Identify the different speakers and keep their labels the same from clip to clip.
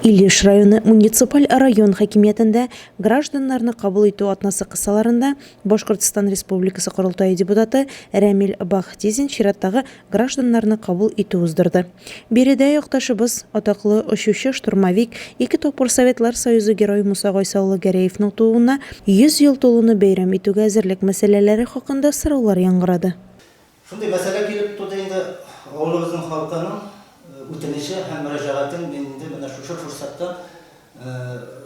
Speaker 1: Илеш районы муниципаль район хакимиятендә гражданнарны кабул итү атнасы кысаларында Башкортстан Республикасы Корылтае депутаты Рәмил Бахтизин чираттагы гражданнарны кабул итү уздырды. Биредә якташыбыз, атаклы очучы-штурмовик, ике тапкыр Советлар Союзы Герое Муса Гайса улы Гәрәевның тууына 100 ел тулуны бәйрәм итүгә әзерлек мәсьәләләре хакында сораулар яңгырады. Шундый мәсьәлә
Speaker 2: килеп туды инде, авылыбызның халкының үтенече һәм мөрәҗәгатен мин инде менә шушы форсатта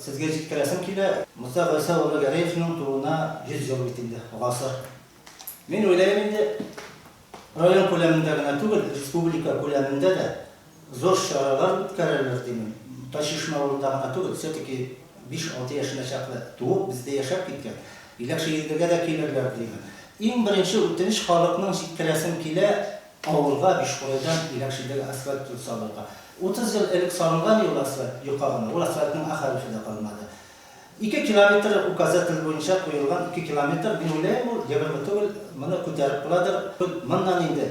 Speaker 2: сезгә җиткерәсем килә. Муса Гайса улы Гәрәевның тууына 100 ел бит инде, гасыр. Мин уйлыйм инде, район күләмендә генә түгел, республика күләмендә дә, Зур чаралар үткәрәләр, димен. Тайчишмә авылында гына түгел, все-таки биш-алты яшенә чаклы туып, бездә яшәп киткән, Иләкше Илдергә дә килерләр, димен. Иң беренче үтенеч халыкның, җиткерәсем килә, авылга, Бишкурайдан Иләкшедәге асфальт юл салырга. Утыз ел элек салынган юл асфальт, йока гына, ул асфальтның а хәрефе дә калмады. Ике километр указатель буенча куелган, ике километр, мин уйлыйм, ул егерме түгел, моны күтәреп кыладыр, моннан инде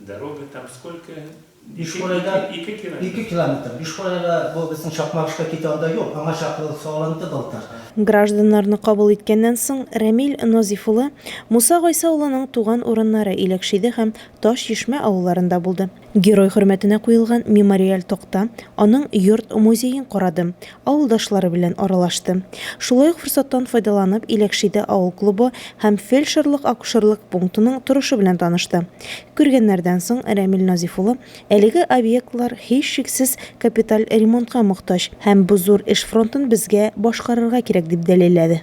Speaker 3: Дорога там сколько? Бишкурайда
Speaker 2: ике километр. Ике километр. Бишкурайга бу безнең Чакмагышка китә анда юк. Аңа чаклы салынды былтыр. Гражданнарны
Speaker 1: кабул иткәннән соң, Рәмил Назиф улы Муса Гайса улының туган урыннары Иләкшиде һәм Таш Чишмә авылларында булды. Герой хөрмәтенә куелган мемориаль такта, аның йорт-музеен карады, авылдашлары белән аралашты. Шулай ук форсаттан файдаланып, Иләкшиде авыл клубы һәм фельдшерлык-акушерлык пунктының торышы белән танышты. Күргәннәрдән соң Рәмил Назиф улы, Әлеге объектлар һичшиксез капиталь ремонтка мохтаҗ һәм бу зур эш фронтын безгә башкарырга кирәк, дип дәлилләде.